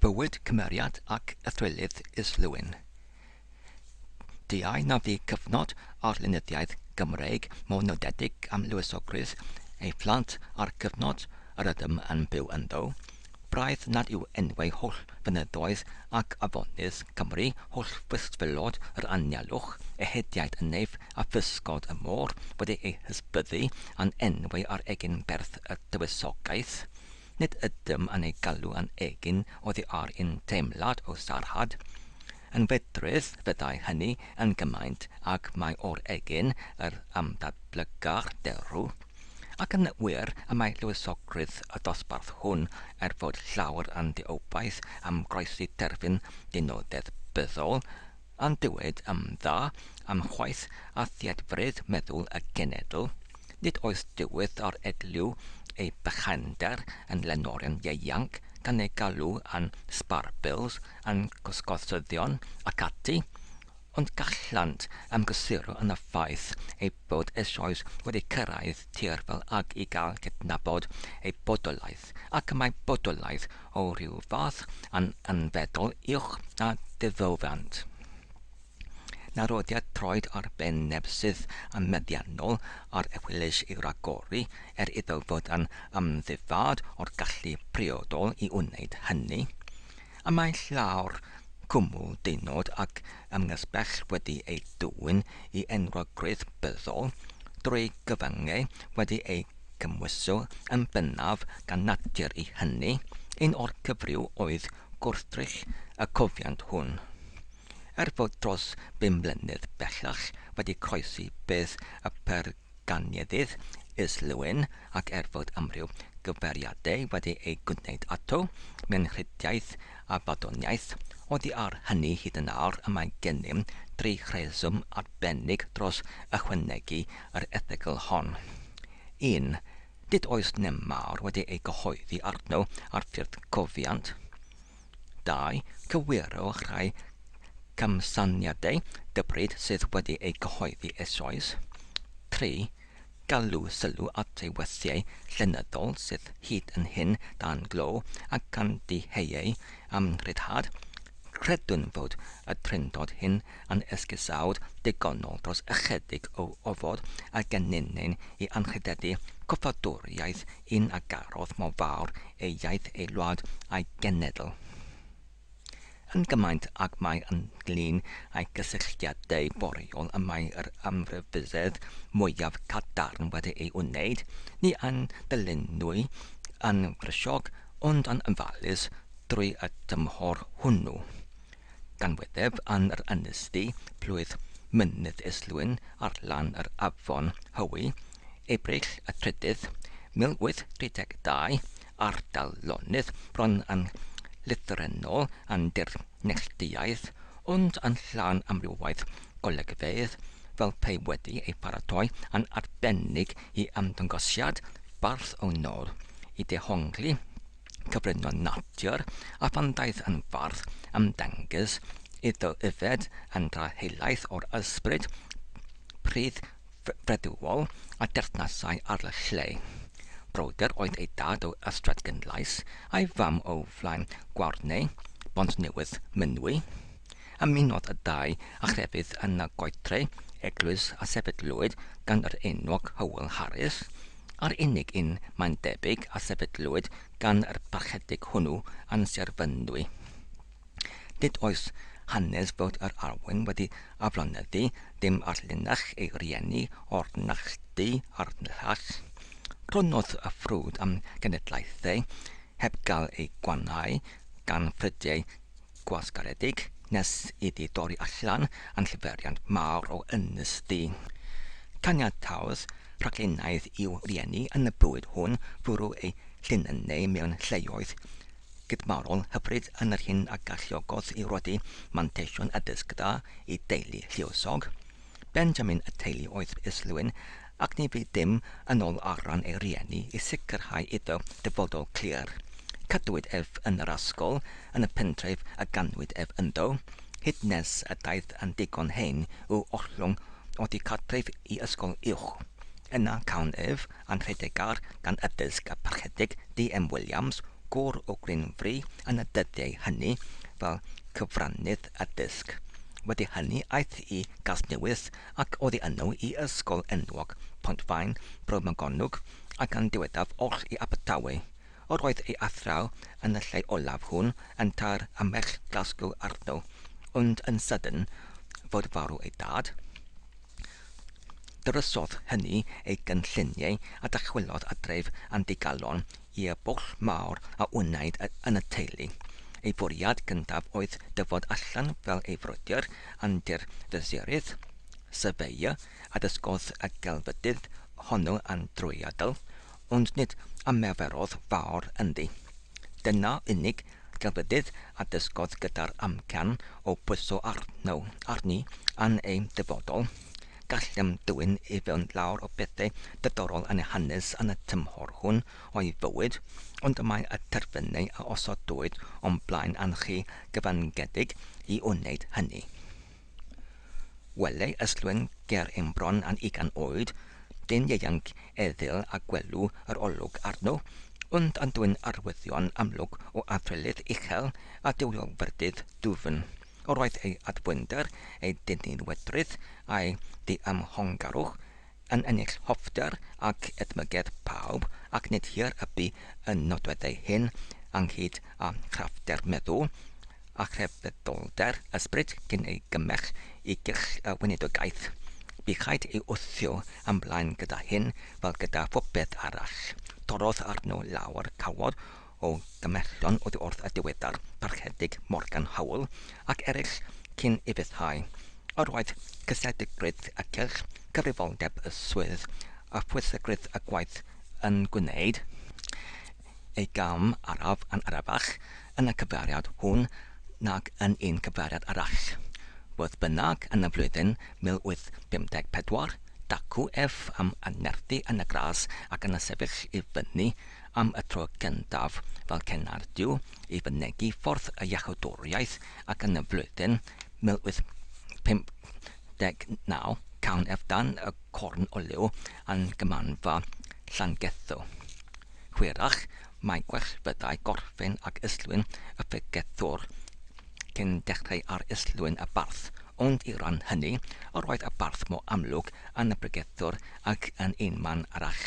Bywyd, cymeriad ac athrylith Islwyn. Diau na fu cyfnod ar lenyddiaeth Gymreig mor nodedig am lywysogrwydd ei phlant â'r cyfnod yr ydym yn byw ynddo. Braidd nad yw enwau holl fynyddoedd ac afonydd Cymru, holl fysfylod yr anialwch, ehediaid y neif a physgod y môr wedi eu hysbyddu â'n enwau ar egin berth y Tywysogaeth. Nid ydym yn eu galw â'n egin oddi ar un teimlad o sarhad. Yn fedrus fyddai hynny yn gymaint ag mai o'r egin yr ymddatblyga'r derw. Ac yn wir, y mae lluosogrwydd y dosbarth hwn, er fod llawer yn ddieubaeth am groesi terfyn dynodedd byddol, yn dywed yn dda am chwaeth a theatfredd meddwl y genedl, nid oes dywydd ar edliw ei bychander yn lenorion ieuanc, gan ei galw yn sparpils, yn gwsgosyddion, ac ati, ond gallant ymgysyro yn y ffaith eu bod eisoes wedi cyrraedd tir fel ag i gael cydnabod eu bodolaeth, ac mae bodolaeth o ryw fath yn anfeddol uwch na ddiddywant. Narodiad troed ar ben neb sydd yn meddiannol ar Ewyllys i ragori er iddo fod yn amddifad o'r gallu priodol i wneud hynny. A mae llawr cwmwl dynod ac amgysbell wedi ei dwyn i enwog gwrych byddol, drwy gyfyngau wedi eu cymhwyso yn bennaf gan natur i hynny, un o'r cyfryw oedd gwrthrych y cofiant hwn. Er fod dros bum mlynedd bellach wedi croesi bedd y Ganiedydd, Islwyn, ac er fod amryw gyfeiriadau wedi eu gwneud ato, Menrhidiaeth a Baddoniaeth, oddi ar hynny hyd yn awr y mae gennym dri rheswm arbennig dros ychwanegu yr erthygl hon. Un, nid oes neb mawr wedi ei gyhoeddi arno ar ffurf cofiant. Dau, cywiro rhai camsyniadau dybryd sydd wedi eu cyhoeddi eisoes. Tri, galw sylw at ei weithiau llenyddol sydd hyd yn hyn dan glo ac am ddiheue am ryddhad. Credwn fod y Drindod hyn yn esgusawd digonol dros ychydig o ofod a genninyn i anrhydeddu cyfadoriaeth un a garodd mor fawr ei iaith ei wlad a'i genedl yn gymaint ag mai yn glin â'i gysylltiadau boreol y mae yr amryfusedd mwyaf cadarn wedi ei wneud, ni ein dylunwy yn frysiog ond yn ofalus drwy y tymhor hwnnw. Ganwydeb yn yr ynys du, plwyf Mynydd Islwyn ar lan yr afon Hywi, Ebrill y trydydd, 1832, ardal lonydd bron yn lythrennol yn dir neilltuaidd, ond yn llawn amrywiaeth golygfeydd, fel pe wedi ei pharatoi yn arbennig i ymddangosiad bardd o nôl i dehongli, cyflwyno natur a phan ddaeth yn fardd ymddengys iddo yfed yn dda helaeth o'r ysbryd prudd freduol a deyrnasai ar y lle. Brodyr oedd ei dad o Ystrad Gynllais, a'i fam o flaen Gwarney, Bontnewydd, Mynwy. Ymunodd y dau â chrefydd yn y Goetre, eglwys a sefydlwyd gan yr enwog Hywel Harris, A'r unig un, mae'n debyg, a sefydlwyd gan yr Parchedig hwnnw yn Sir Fynwy. Nid oes hanes fod yr Arwyn wedi aflonyddu dim ar linach ei rieni o'r Nalldy a'r Nllach. Cronodd y ffrwd am genedlaethau heb gael eu gwannhau gan ffrydiau Gwasgaredig nes iddi dorri allan yn llyferiant mawr o Ynys Ddu. Caniataodd rhaglunaidd i'w rieni yn y bywyd hwn fwrw eu llinynnau mewn lleoedd gydmarol hyfryd yn yr hyn a galluogodd i Rodi manteision addysg da i deulu lluosog. Benjamin y teulu oedd Islwyn ac ni fydd dim yn ôl ar ran ei rieni i sicrhau iddo dyfodol clir. Cadwyd ef yn yr ysgol yn y pentref y ganwyd ef ynddo, hyd nes y daeth yn ddigon hen i'w ollwng oddi cartref i ysgol uwch. Yna cawn ef anrhydedgar gan y Bilska Parchedig DM Williams, gŵr o Greenfree yn y dyddiau hynny, fel cyfrannydd y disg. Wedi hynny aeth i Gasnewydd ac oddi yno i ysgol enwog Pontfaen Bro Morgannwg ac yn diweddaf oll i Abertawe. Yr oedd ei athraw yn y lle olaf hwn yn taer y merch Glasgow arno, ond yn sydyn fod farw ei dad. Drysodd hynny ei gynlluniau a dychwelodd adref yn ddigalon i'r bwll mawr a wnaed yn y teulu. Ei fwriad gyntaf oedd dyfod allan fel ei frwydr yn Dŷ'r Fesurydd, Surveyor, a dysgodd y gelfydydd honno yn drwyadl, Ond nid ymarferodd fawr ynddi. Dyna unig gelfyddyd a dysgodd gyda'r amcan o bwyso arno, arni, yn ei dyfodol. Gallem dwyn i fewn lawer o bethau diddorol yn ei hanes yn y tymhor hwn o'i fywyd, ond mae y terfynau a osodwyd o'n blaen yn rhy gyfyngedig i wneud hynny. Welai Ystlwen ger ein bron a'n ugain oed, dyn ieuanc eddyl a gwelw yr olwg arno, ond a dwyn arwyddion amlwg o athrylith uchel a duwiolfyrdydd dwfn. Yr oedd ei addfwynder, ei dynnu'n wedrith, a'i ddiymhongarwch yn ennill hoffter ac edmygedd pawb ac nid hir y bu y nodwedd ei hun ynghyd â chraffter meddw a chrefyddolder ysbryd cyn ei gymell i gyrch y weinidogaeth. Bu rhaid ei wthio yn blaen gyda hyn fel gyda phopeth arall. Torrodd arno lawr cawod o gymhellion oddi wrth y diweddar Parchedig Morgan Howell ac eraill cyn ei ryddhau. Yr oedd cysegrigrwydd y cylch, cyfrifoldeb y swydd a phwysigrwydd y gwaith yn gwneud ei gam araf yn arafach yn y cyfeiriad hwn nag yn un cyfeiriad arall. Fodd bynnag, yn y flwyddyn 1854, dacw ef am annerthu yn y gras ac yna sefyll i fyny am y tro gyntaf fel Cenardyw i fynegi ffordd y Iachawdwriaeth ac yn y flwyddyn 1859 cawn ef dan y corn o liw yn Gymanfa Llangetho. Hwyrach mai gwell fyddai gorffen ag Islwyn y Ffrigethwr cyn dechrau ar Islwyn y Barth, ond i ran hynny yr oedd y Barth mor amlwg yn y Bregethwr ac yn un man arall.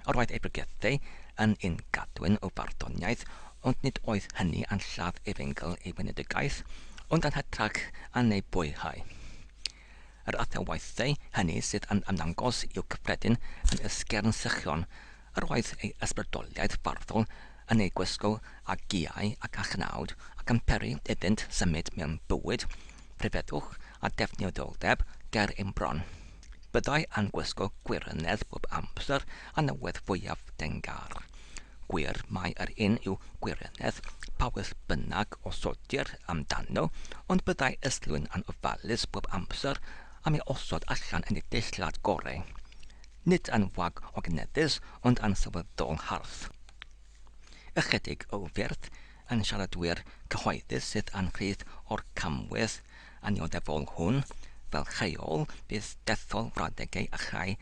Roedd ei bregethau yn un gadwyn o farddoniaeth, ond nid oedd hynny yn lladd efengyl ei wenedigaeth, ond yn hytrach yn ei bwyrhau. Yr athrawiadau hynny sydd yn ymddangos i'w cyffredin yn Ysgern Sychron, yr oedd ei ysbrydoliaeth farddol yn ei gwisgo â giau ac â chnawd, ac yn peri iddynt symud mewn bywyd rhyfeddwch a defnyddioldeb ger ein bron. Byddai yn gwisgo gwirionedd bob amser yn y wedd fwyaf dengar. Gwir mai yr un yw gwirionedd pa wedd bynnag osodir amdano, ond byddai Islwyn yn ofalus bob amser am ei osod allan yn ei deillad gorau. Nid yn wag o gneddus, ond yn sylweddol hardd. Ychydig o wyrth yn siaradwyr cyhoeddus sydd yn rhydd o'r camwedd annioddefol hwn, fel rheol, bydd dethol frawddegau a chau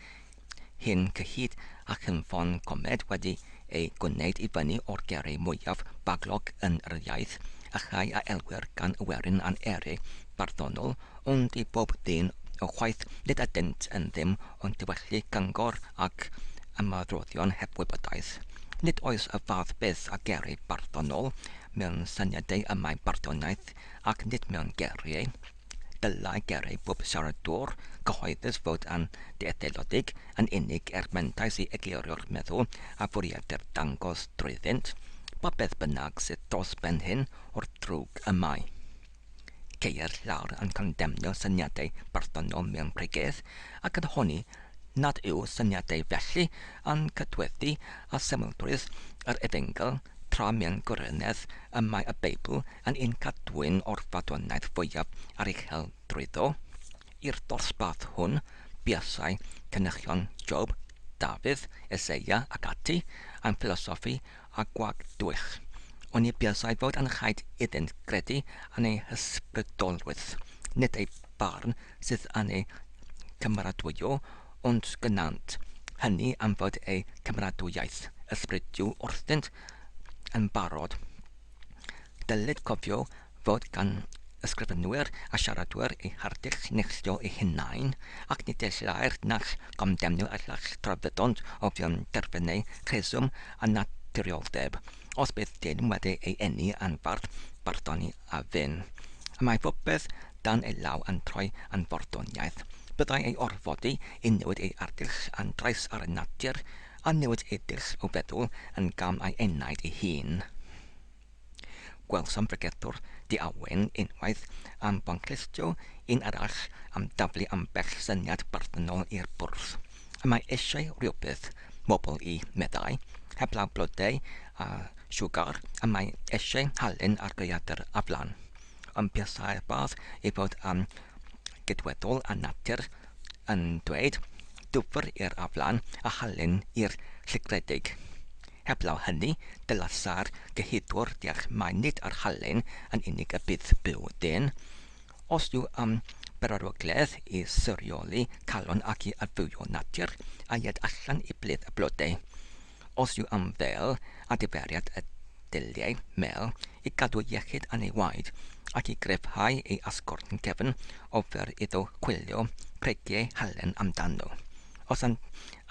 hyn cyhyd a chynffon comed wedi ei gwneud i fyny o'r gerri mwyaf baglog yn yr iaith, a chau a elwir gan y werin a'n eri barddonol, ond i bob ddyn o chwaeth nid ydynt yn ddim Ond dywedli gyngor ac ymadroddion heb wybodaeth, nid oes y fath beth â geri barddonol mewn syniadau y mae barddoniaeth ac nid mewn geriau. Dylai geri bob siaradwr cyhoeddus fod yn ddietheulodig yn unig er mentais i eglurio'r meddwl a fwriadir dangos drwyddynt, pa beth bynnag sydd dros ben hyn o'r drwg y mae. Ceir llawer yn condemnio syniadau barddonol mewn pregeth, ac yn honni nad yw syniadau felly yn cydweddu â symlrwydd yr Efengyl, tra mewn gwirionedd y mae y Beibl yn ein cadwyn o'r farddoniaeth fwyaf aruchel drwyddo. I'r dosbarth hwn, buasai cynichion Job, Dafydd, Eseia ac ati yn ffilosoffi a gwag dwych, oni buasai fod yn rhaid iddynt gredu yn eu hysbrydolrwydd, nid eu barn sydd yn eu cymeradwyo, ond gwnânt hynny am fod eu cymeradwyaeth ysbrydol wrthynt yn barod. Dylid cofio fod gan ysgrifenwyr a siaradwyr eu harddegll neilltuol eu hunain, ac nid y lleiaf nac gamddenw y llall tra fyddant o fewn terfynau rheswm a naturioldeb, os bydd dyn wedi ei eni yn fardd barddoni a ddyn, y mae popeth dan ei law yn troi yn farddoniaeth, byddai ei orfodi i newid ei arddegll yn drais ar natur, a newid ei ddull o feddwl yn gam ei enaid ei hun. Gwelsom bregethwr di-awen unwaith am fanclustio, un arall am daflu ambell syniad barddynol i'r bwrdd. Y mae eisiau rhywbeth, bobl i, meddai, heblaw blodau a siwgar, y mae eisiau halen ar gaeadr a flan. Ond buasai'r bardd i fod am gydweddol â natur yn dweud, dwfr i'r aflan a halen i'r llygredig. Heblaw hynny, dylai'r sâr gyhudwr deall mai nid ar halen yn unig y bydd byw dyn. Os yw am bererygledd i sorioli calon ac i adfywio natur, a ied allan i blith y blodau. Os yw am fel adferiad y dulliau mêl i gadw iechyd yn ei waed ac i gryfhau ei asgwrn cefn, ofer iddo chwilio pregiau halen amdano. Os am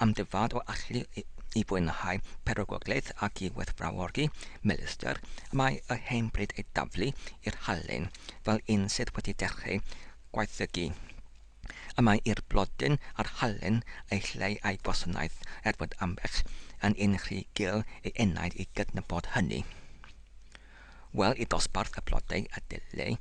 am dy fod o allu i fwynhau perygwglaeth ac i werthfawrogi melyster, mae y hen bryd ei daflu i'r halen fel un sydd wedi dechreu gwaethygu. Y mae i'r blodyn a'r halen eu lle a'i gwasanaeth er bod ambell yn un rhy gul ei enaid i gydnabod hynny. Wel, y dosbarth, y blodau, y dulliau,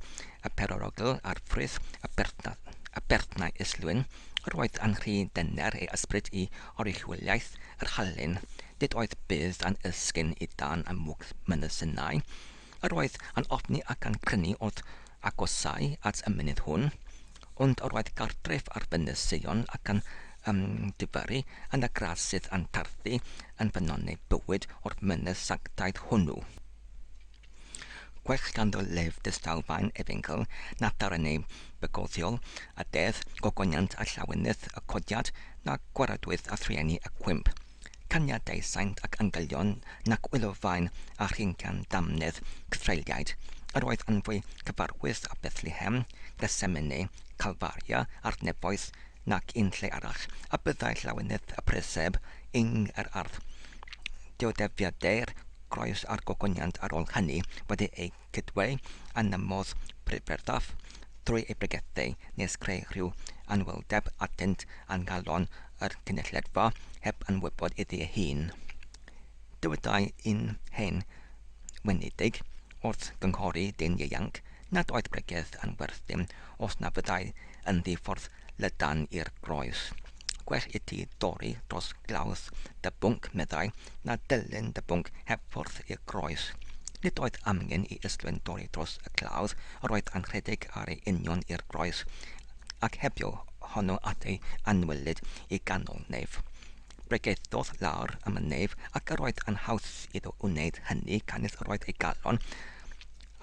y perorogl, a'r ffrwyth, y berthnath, y berthnau islwyn, yr oedd yn rhy dyner ei ysbryd i oruchwyliaeth yr halen, nid oedd budd yn esgyn i dân a mwg mynysynau, yr oedd yn ofni ac yn crynu wrth agosau at y mynydd hwn, Ond yr oedd cartref ar Fynys Seion ac yn Dyfari, yn y gradd sydd yn tarfu yn ffynnon ei bywyd o'r Mynydd Sanctaidd hwnnw. Gwell ganddo lef distaw faen efengyl na darren ei bygothiol, a dedd gogoniant a llawenydd y codiad na gwaradwydd a thrueni y cwymp. Caniadau saint ac angelion nac wylofain a rhincan damnedd cythreuliaid yr oedd yn fwy cyfarwydd â Bethlehem, Gethsemane, Calfaria a'r nefoedd nac un lle arall a byddai llawenydd y preseb yng yr ardd. Dioddefiadau'r groes a'r gogoniant ar ôl hynny wedi eu Cydwei a nymodd Prydferthaf drwy ei bregethau nes creu rhyw anwyldeb atynt a ngalon yr cynulledfa heb anwybod iddi ei hun. Dywedai un hen weiniddig wrth gynghori dyn ieuanc nad oedd pregeth yn werth dim os na fyddai yn ddi-ffordd lydan i'r groes. Gwell iti dorri dros glawdd dy bwnc, meddai, na dilyn dy bwnc heb fwrdd i'r groes. Nid oedd amgen i Islwyn dorri dros y clawdd, yr oedd a'n rhedeg ar ei union i'r groes, ac hebio honno at ei anwylyd i ganol neif. Bregethodd lawr am y neif, ac yr oedd a'n haws iddo wneud hynny, canys yr oedd ei galon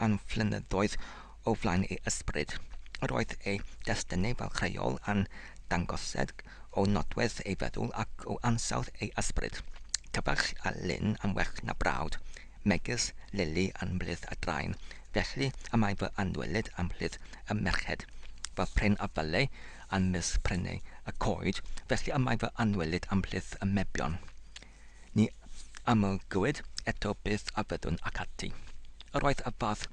a'n fflynyddoedd o flaen ei ysbryd. Yr oedd ei destunau fel creol a'n dangosed o nodwedd ei feddwl ac o ansawdd ei ysbryd. Cyfarch a lin am werch na brawd, megys Lili a'n mhlith a drain, felly y mae fy anwelyd a'n mhlith y merched, fy pren a fyllai a'n mis prenau y coed, felly y mae fy anwelyd a'n mhlith y mebion. Ni amlygwyd eto beth a fyddwn ac ati. Yr oedd y fath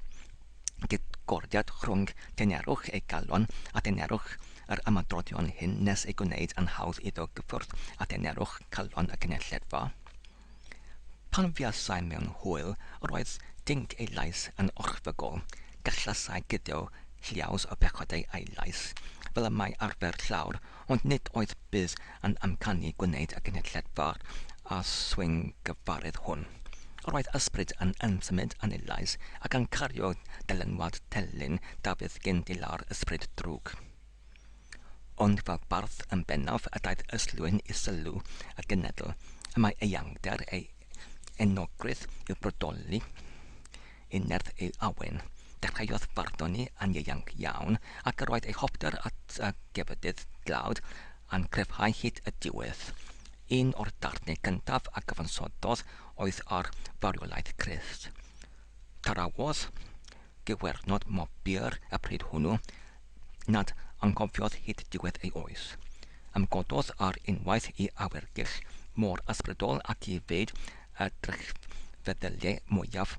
gydgordiad rhwng denerwch ei galon a denerwch yr ymadroddion hyn nes ei gwneyd yn hawdd iddo gyffwrdd â denerwch calon y cynulledfa. Pan fuasai mewn hwyl, yr oedd dinc ei lais yn orchfygol, gallasai guddio lliaws o bechod ei ailais, fel y mae arfer llawr Ond nid oedd Biz yn amcanu gwneud y cynhyrchiad fawr a swyngyfaredd hwn. Roedd ysbryd yn ymsymud yn ei lais ac yn cario dylanwad telyn Dafydd gyn dilâr ysbryd drwg. Ond fel bardd yn bennaf y daeth Yslwyn i sylw y genedl y mae eangder ei enogrwydd i'w brodoli. Yn nerth ei awen, dechreuodd barddoni yn ieuanc iawn, ac yr oedd ei hoffter at y gefydydd dlawd yn cryfhau hyd y diwedd. Un o'r darnau cyntaf a gyfansoddodd oedd ar farwolaeth Christ. Tarawodd gwywernod Mobbeer y pryd hwnnw, nad anghofiodd hyd diwedd ei oes. Ymgododd ar unwaith i awyrgylch mor ysbrydol ac i fyd y drychfeddyliau mwyaf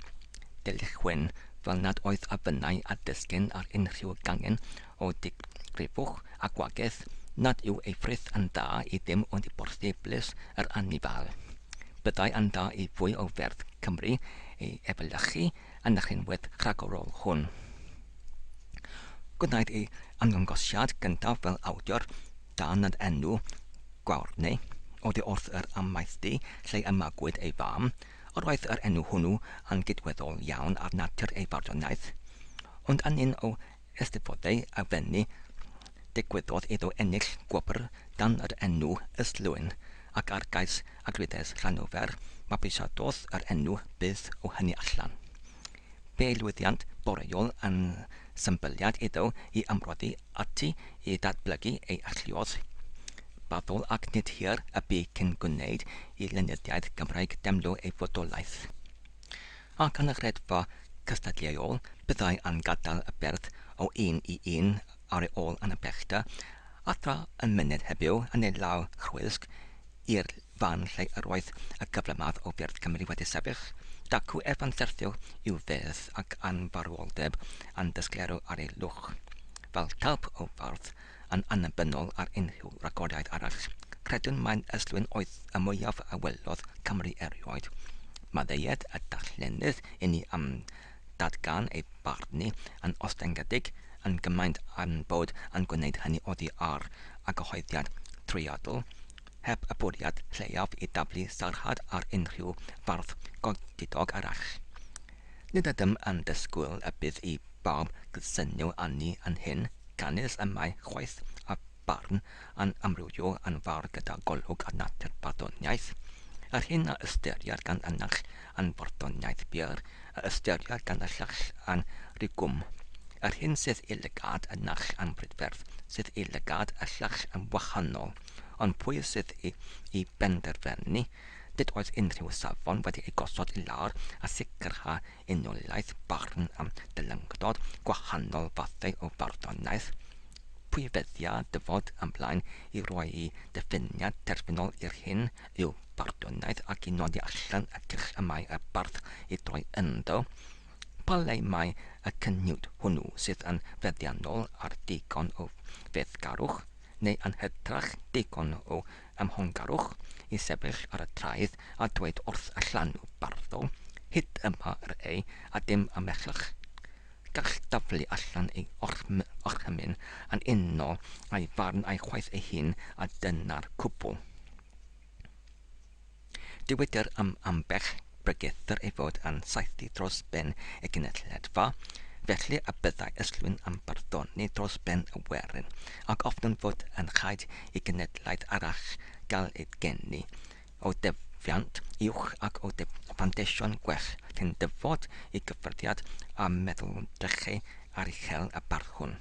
deilchwyn fel nad oedd afinnau a dysgyn ar unrhyw gangen o ddigrifwch a gwagedd nad yw ei frith yn dda i ddim ond i borthi blys yr anifail. Byddai yn dda i fwy o ferdd Cymru ei efelychu yn y rhinwedd rhagorol hwn. Gwnaed ei ymddangosiad gyntaf fel awdur dan yr enw Gwawrdne oddi wrth yr amaethdy lle y magwyd ei fam, yr oedd yr enw hwnnw yn gydweddol iawn â'r natur ei farddoniaeth, ond yn un o Eisteddfodau a Fenni, digwyddodd iddo ennill gwobr dan yr enw Islwyn, ac ar gais Agrides Llanofer, mabwysiadodd yr enw Byth o hynny allan. Fe'i lwyddiant boreol yn symbyliad iddo i ymroddi ati i ddatblygu ei alluoedd barddol ac nid hir y bu cyn gwneud i lenyddiaeth Gymraeg deimlo ei fodolaeth. Ac yn y Rhedfa cystadleuol, byddai am gadael y berth o un i un ar ei ôl yn y pellter, a thra y myned heddiw yn ei law chwysg i'r fan lle yr oedd y cyflymadd o fyrdd Cymru wedi sefyll, dacw ef yn syrthiol i'w fedd ac anfarwoldeb yn dysgleru ar ei lwch, fel talp o fardd, Yn annibynnol ar unrhyw ragoriaeth arall, credwn mai'n ystlwyn oedd y mwyaf a welodd Cymru erioed. Maddeued y darllenydd inni am ddatgan ei barnu yn ostyngedig yn gymaint a'n bod yn gwneud hynny oddi ar a gyhoeddiad trwyadl, heb y bwriad lleiaf i daflu sarhad ar unrhyw fardd godidog arall. Nid ydym yn disgwyl y bydd i bawb gydsynio â ni yn hyn, canys y mae chwaeth a barn yn amrywio yn fawr gyda golwg ar natur barddoniaeth, yr hyn a ystyrier gan y naill yn farddoniaeth bur, a ystyrier gan y llall yn rigwm, yr hyn sydd i lygad y naill yn brydferth, sydd i lygad y llall yn wahanol. ond pwy sydd i benderfynu? Nid oes unrhyw safon wedi ei gosod i lawr a sicrhau unoliaeth barn am ddylyngdod gwahanol fathau o farddoniaeth. Pwy feddia dyfod am blaen i roi'i ddiffiniad terfynol i'r hyn yw barddoniaeth ac i nodi allan y cyrch y mae y bardd i droi ynddo? Pa le mae y cyniwd hwnnw sydd yn feddiannol ar ddigon o fethgarwch? neu yn hytrach digon o amhongarwch i sefyll ar y traeth a dweud wrth y llanw barddol, Hyd yma yr ei, a dim ymhellach. Gall daflu allan ei orchymyn yn unol â'i farn a'i chwaeth ei hun, a dyna'r cwbl. Dywedir am ambell bregethwr ei fod yn saethu dros ben y gynulleidfa, felly y byddai Islwyn yn barddoni dros ben y werin, ac ofnwn fod yn rhaid i gynulleidfa arall gael ei geni, o defiant uwch ac o fanteision gwell cyn dyfod i gyffyrddiad â meddwdrechau aruchel y barddwn.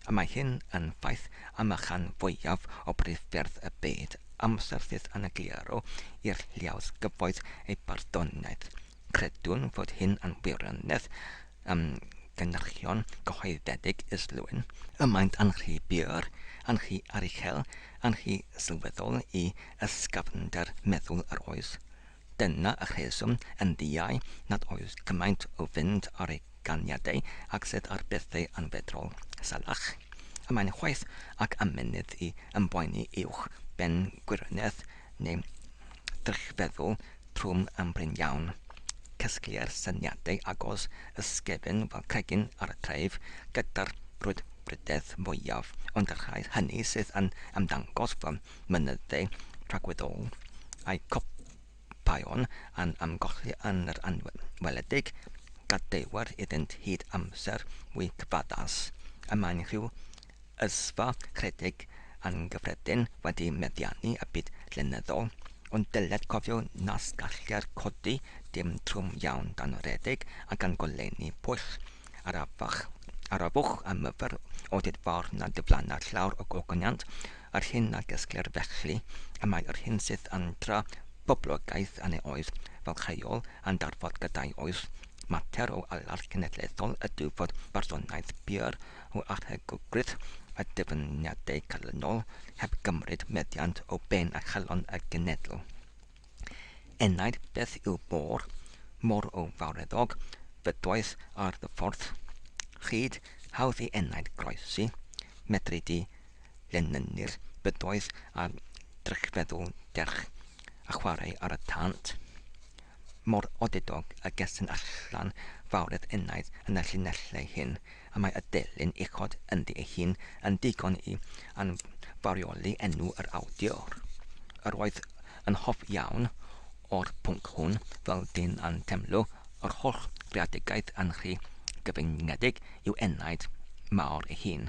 Y mae hyn yn ffaith am y rhan fwyaf o briffyrdd y byd. amser fydd yn egluro i'r Lluoedd Gyfoeth eu barddoniaeth. Credwn fod hyn yn wirionedd ym gynyrchion cyhoeddedig Islwyn, y maent yn rhy bur, yn rhy aruchel, yn rhy sylweddol i ysgafnder meddwl yr oes. Dyna y rheswm, yn ddiau, nad oes cymaint o fynd ar ei ganiadau ag sydd ar bethau anfedrol, salach. A mae'n chwaeth ac amynedd i ymboeni uwch ben gwirionedd neu ddrychfeddwl trwm am brin iawn. Casgliai'r syniadau agos ysgefn fel cregyn ar y treif gyda'r brwdfrydedd fwyaf, ond y rhai hynny sydd yn ymddangos fel mynydde rhagweddol a'i chopïon yn ymgolli yn yr anwedd weledig, gadewir iddynt hyd amser fwy cyfaddas, y mae'n rhyw ysfa rhedeg anghyffredin wedi meddiannu y byd llenyddol, ond dyled cofio nas gallir codi dim trwm iawn dan redeg a gan golenni pwll Arafach, arafwch am yfr o dyd fawr na dyflana llawr o gogoniant, yr hyn a gesglir felly y mae yr hyn sydd yn tra boblogaeth yn ei oes fel rheol yn darfod gyda'i oes, mater o alach cenedlaethol ydyw fod barddoniaeth bur o arhegwgrydd y dyfyniadau calonol heb gymryd meddiant o ben a chalon y genedl. Enaid beth yw môr, môr o fawreddog, fydoedd ar dy ffordd, Hyd hawdd i enaid groesi, medri di lenynnu'r bydoedd a drychfeddwl derch a chwarae ar y tant. Mor odidog y gesyn allan fawredd enaid yn y llinellau hyn, a mae y delyn uchod ynddi ei hun yn ddigon i anfawrioli enw yr awdur. Yr oedd yn hoff iawn o'r pwnc hwn, fel dyn a'n temlo yr holl greadigaeth yn rhy gyfyngedig i'w enaid mawr ei hun.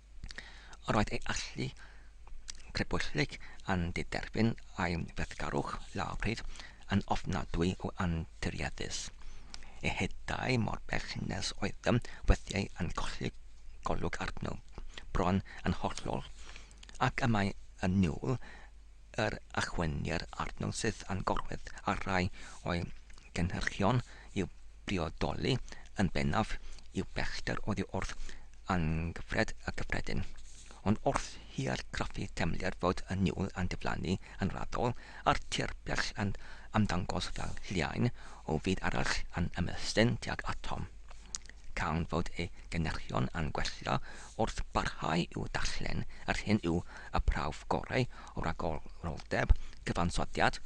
Roedd ei allu crybwyllyd yn diderbyn a'i weithgarwch lawrydd yn ofnadwy o anturiaethus. Ei hedau mor bell nes oedd ym mhwthiau yn colli golwg arno, bron yn hollol, ac y mae yn niwl yr achwynir arno sydd â'n gorwedd ar rai o'i gynhyrchion i'w briodoli yn bennaf yw pellter oddi wrth anghyfred y cyffredin. Ond wrth i argraffu teimlir fod y niwl yn diflannu yn raddol, a'r tir bell yn ymddangos fel lliain o fyd arall yn ymestyn tuag atom, Gan fod ei gynhyrchion yn gweithio wrth barhau i'w darllen, yr hyn yw y prawf gorau o ragoroldeb, cyfansoddiad,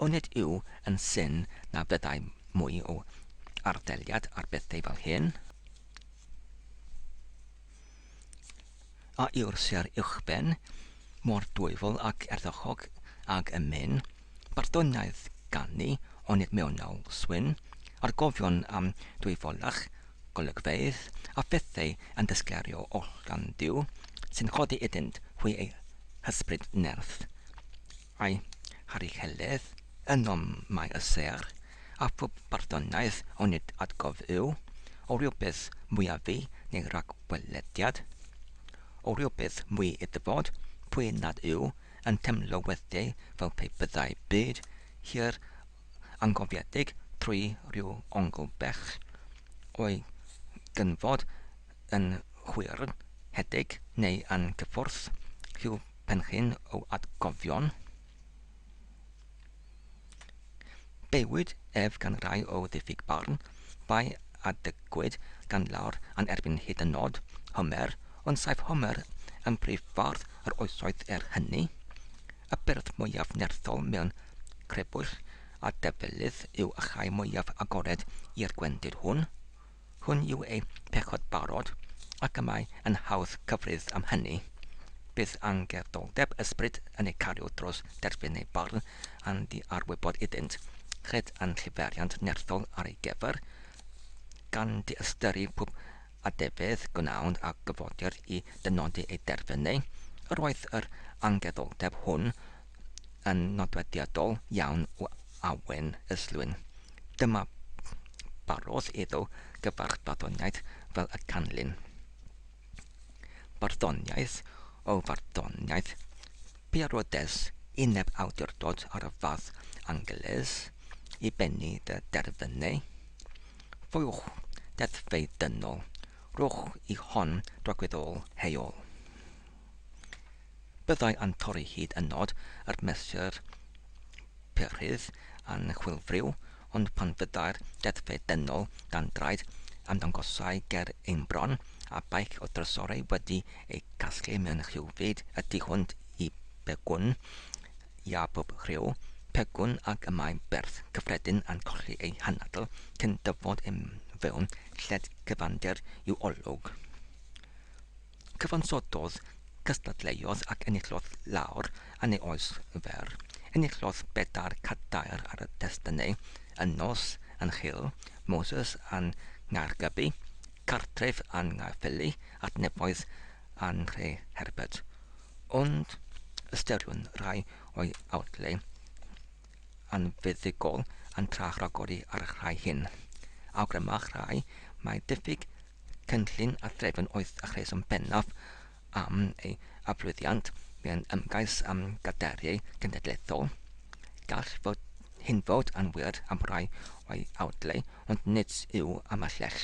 onid yw yn syn na fyddai mwy o arddeliad ar bethau fel hyn? a yw'r sêr uwchben mor dwyfol ac ardderchog ag y myn Barddoniaeth ganu onid mewnol swyn a'r gofion am dwyfolach golygfeydd a phethau yn dysgleirio oll gan Dduw sy'n codi iddynt hwy eu hysbryd nerth Mae Harri Heledd yn nom mai y sêr a phob barddoniaeth onid atgof yw o rywbeth mwyaf neu ragwelediad, o rywbeth mwy i ddyfod pwy nad yw yn temlo weithiau fel pe byddai byd hir angofiedig trwy ryw ongl bell o'i gynfod yn hwyrddhedig neu angyffwrdd rhyw Penrhyn o atgofion. Bywyd ef gan rai o ddiffyg barn, bai a dygwyd gan lawr a'n erbyn hyd yn nod, Homer, ond saif Homer yn prif fardd yr oesoedd er hynny. Y beirdd mwyaf nerthol mewn crebwyll a defelydd yw y rhai mwyaf agored i'r gwendid hwn. Hwn yw eu pechod barod, ac y mae yn hawdd cyfrif am hynny. Bydd angerddolldeb ysbryd yn eu cario dros derfyn eu barn a'n diarwybod iddynt, cred a'n lliferiant nerthol ar ei gyfer, gan diystyru pob adefyd gwnawn a gyfodir i dynodi eu derfynau. Yr oedd yr angerddolldeb hwn yn nodweddiadol iawn o awen y slwyn. Dyma barodd iddo gyfarch barddoniaeth fel y canlyn. Barddoniaeth o farddoniaeth, Pierodes i neb awdurdod ar y fath Angeles i bennu dy derfynau. Foiwch deddfau dynol, rhowch i hon drogwyddol heol. Byddai yn torri hyd yn nod yr mesur perydd yn chwilfriw, ond pan fyddai'r deddfe dynol dan draed ymddangosai ger ein bron, a beic o drysorau wedi ei gasglu mewn rhyw fyd y tu hwnt i begwn, ia pob rhyw, pegwn ac y mae berth cyffredin yn colli ei hanadl cyn dyfod i mewn lled cyfandir i'w olwg. Cyfansododd, cystadleuodd ac enillodd lawr yn ei oes fer. Enillodd bedair cadair ar y testynau, yn nos, yn Nhŷl Moses a Nghaergybi, Cartref a Nghaerffili, Adnefoedd a Nhreherbert. Ond ystyriwn rai o'i awdlau yn fuddugol yn trach ragori ar y rhai hyn. Awgrymach rhai mai diffyg cynllun a threfn oedd y rheswm bennaf am ei aflwyddiant mewn ymgais am gadeiriau cenedlaethol. Gall fod hyn fod yn wir am rai o'i awdlau, ond nid yw am y lleill.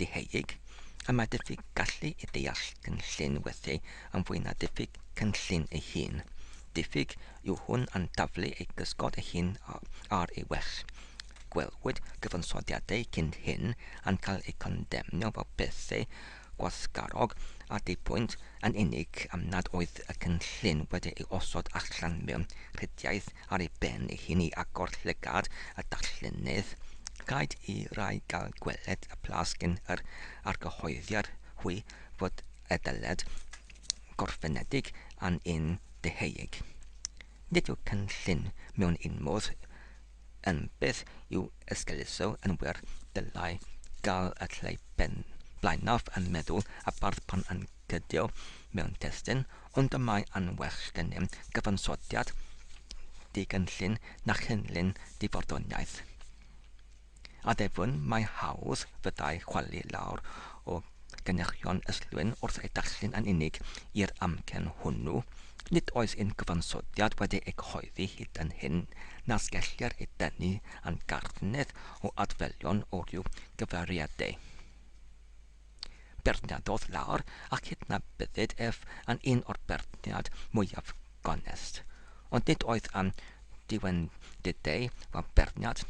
deheuig, a mae diffyg gallu i ddeall cynllun weithiau yn fwy na diffyg cynllun ei hun. Diffyg yw hwn yn taflu ei gysgod ei hun ar ei well. Gwelwyd cyfansoddiadau cyn hyn yn cael eu condemnio fel pethau gwasgarog a dipwynt yn unig am nad oedd y cynllun wedi ei osod allan mewn rhediaeth ar ei ben ei hun i agor llygad y darllenydd, rhaid i rai gael gweled y plas cyn yr argyhoeddiad hwy fod y dyled gorffenedig yn un deheuig. Nid yw cynllun mewn un modd yn beth i'w esgeuluso yn wir, dylai gael y lle blaenaf yn meddwl y bardd pan yn cydio mewn testun, Ond y mae yn well gennym gyfansoddiad digynllun na chynllun difarddoniaeth. Addefwn mai hawdd fyddai chwalu lawr o gyniachion Islwyn wrth eu darllen yn unig i'r amgen hwnnw, nid oes un gyfansoddiad wedi ei gyhoeddi hyd yn hyn nas gellir ei dynnu yn garthnedd o adferion o ryw gyfeiriadau. Beirniadodd lawr a chydnabyddid ef yn un o'r beirniad mwyaf gonest. Ond nid oedd am diwendidau fel beirniad,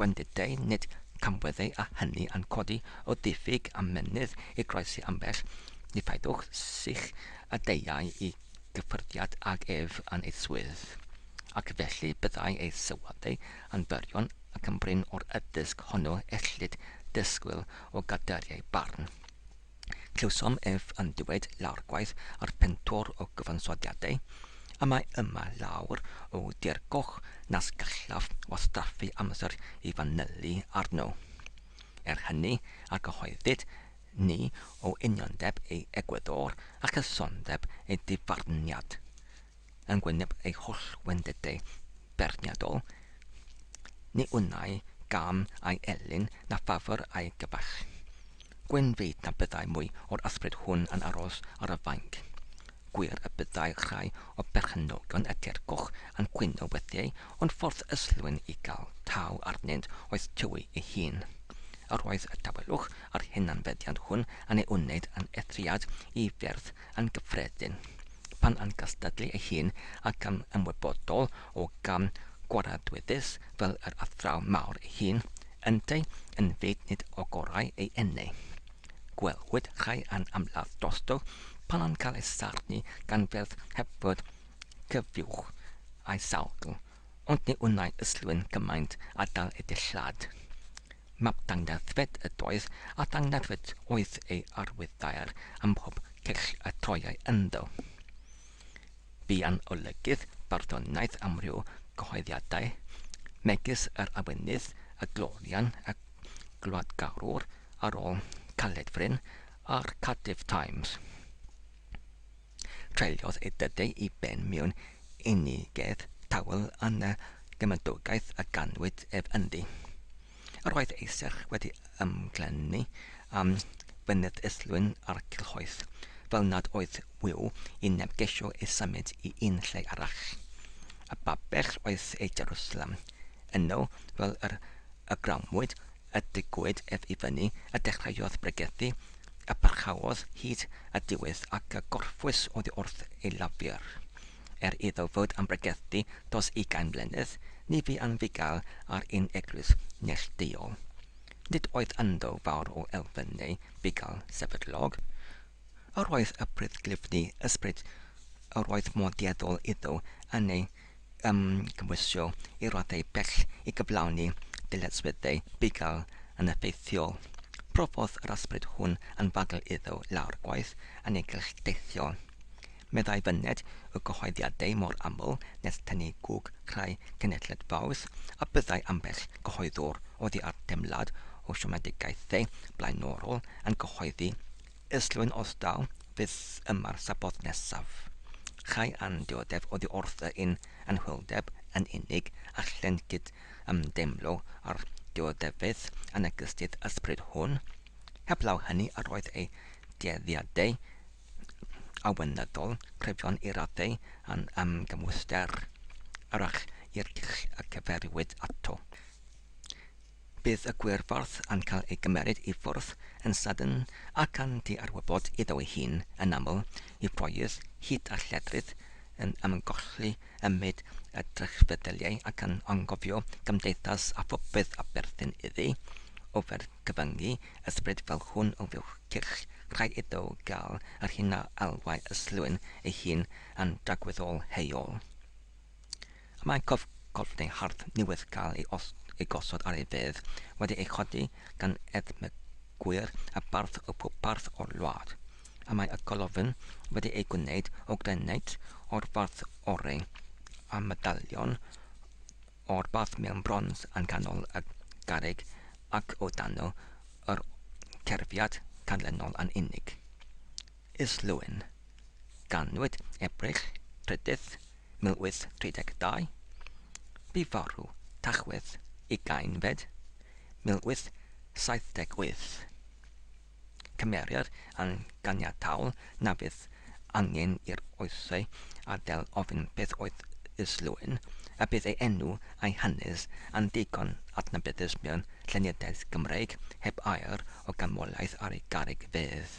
gwendidau, nid camweddau a hynny yn codi o ddiffyg a mennydd i groesi ambell nifaidwch sych a deuai i gyffyrddiad ag ef yn ei swydd, ac felly byddai ei sylwadau yn fyrion ac yn brin o'r addysg honno ellid dysgwyl O gader ei barn. Clywsom ef yn dywed lawr gwaith ar pentwr o gyfansoddiadau, y mae yma lawer o dir goch nas gallaf wastraffu amser i fanylu arno. Er hynny, argyhoeddid ni o uniondeb ei egwyddor a chysondeb ei difarniad. yn wyneb ei holl wendidau beirniadol, ni wnai gam ai elyn na ffafr ai gyfaill. Gwyn fyd na byddai mwy o'r ysbryd hwn yn aros ar y fainc. Gwir y byddai rhai o berchenogion y teirgwch yn cwyno weithiau ond ffordd ystlwyn i gael taw arnynt oedd tywi ei hun. Yr oedd y tawelwch a'r hunanfeddiant hwn yn ei wneud yn eithriad i fyrdd Yn gyffredin, pan yn gystadlu ei hun ac yn ymwybodol o gam gwaradwyddus fel yr athraw mawr ei hun, ynteu yn fyd nid o gorau ei enne. Gwelwyd rhai yn ymladd drosto pan yn cael ei sarnu gan ferch heb fod cyfiwch a'i sawgl Ond ni wnai yslu'n gymaint a dal y dillad. Map dangladdfed ydoedd, a dangladdfed oedd ei arwydd daear ym mhob cyll y troiai ynddo. Buan olygydd barddoniaeth amryw gyhoeddiadau, megis yr Awynydd, y Glorian, y Gwladgarwr, Arôl, Caledfryn, a'r Cardiff Times. Treuliodd ei dydau i ben mewn unigedd tawel yn y gymydogaeth a ganwyd ef ynddi. Yr oedd ei serch wedi ymglennu am fynydd Islwyn a'r Cilhoeth, fel nad oedd wyw i neb gesio ei symud i un lle arall. A Babell oedd ei Jerwsalem. Yno, fel yr ygramwyd, a digwyd ef i fyny, a dechreuodd bregethu, a pharchaodd hyd at ddiwedd, ac a gorffwys oddi wrth ei lafur. Er iddo fod am bregethu dros ugain mlynedd, ni fu am fugail ar un eglwys neillduol. Nid oedd ynddo fawr o elfen neu fugail sefydlog. Yr oedd y prydd glyfni ysbryd yr oedd mor dueddol iddo yn ei yn cymhwysio i raddau bell i gyflawni dyletswyddau bugail yn effeithiol. Profodd yr ysbryd hwn anfagl iddo lawr gwaith annigell deithio. Meddai fyned o gyhoeddiadau mor aml nes tynnu gwg crai cenhedled faws a byddai ambell gyhoeddwr oddi ar deimlad o siomedigaethau blaenorol yn cyhoeddi Islwyn os daw fyth yma'r Sabboth nesaf. Chai a'n dioddef oddi wrth y yn anhwyldeb yn unig a chlent gyd ymdeimlo â'r dioddefeydd anegysydd ysbryd hwn. Heblaw hynny yr oedd ei dueddiadau awynyddol cryfion i raddau yn ymgymwyster, arach i'r dull y cyferiwyd ato. Bydd y gwyrffordd yn cael ei gymeryd i ffwrdd yn sydyn ac yn diarwybod iddo ei hun, yn aml, i ffoydd hud a lledrith, yn ymgolli ym myd y drychfeddyliau ac yn angofio cymdeithas a phopeth a berthyn iddi. Ofer cyfyngu ysbryd fel hwn o fuwch cyrch, rhaid iddo gael yr hyn a elwai ystlwyn ei hun yn dragwyddol heuol. A mae cof golchi hardd newydd gael ei os ei gosod ar ei fedd wedi ei chodi gan edmygwyr a bardd o pob parth o'r wlad. A mae y colofn wedi ei gwneud o graneit o'r fath oreu a medalion o'r fath mewn brons yn canol y garreg ac o dano yr cerfiad canlynol yn unig. Islwyn. Ganwyd Ebrill, Rhyddydd, 1832. Bu farw, Tachwedd, Ugainfed, 1878. Cymerir yn ganiataol na fydd angen i'r oesau adael ofyn beth oedd Islwyn, a bydd ei enw a'i hanes yn ddigon adnabyddus mewn llenyddiaeth Gymreig heb air o ganmoliaeth ar ei garreg fedd.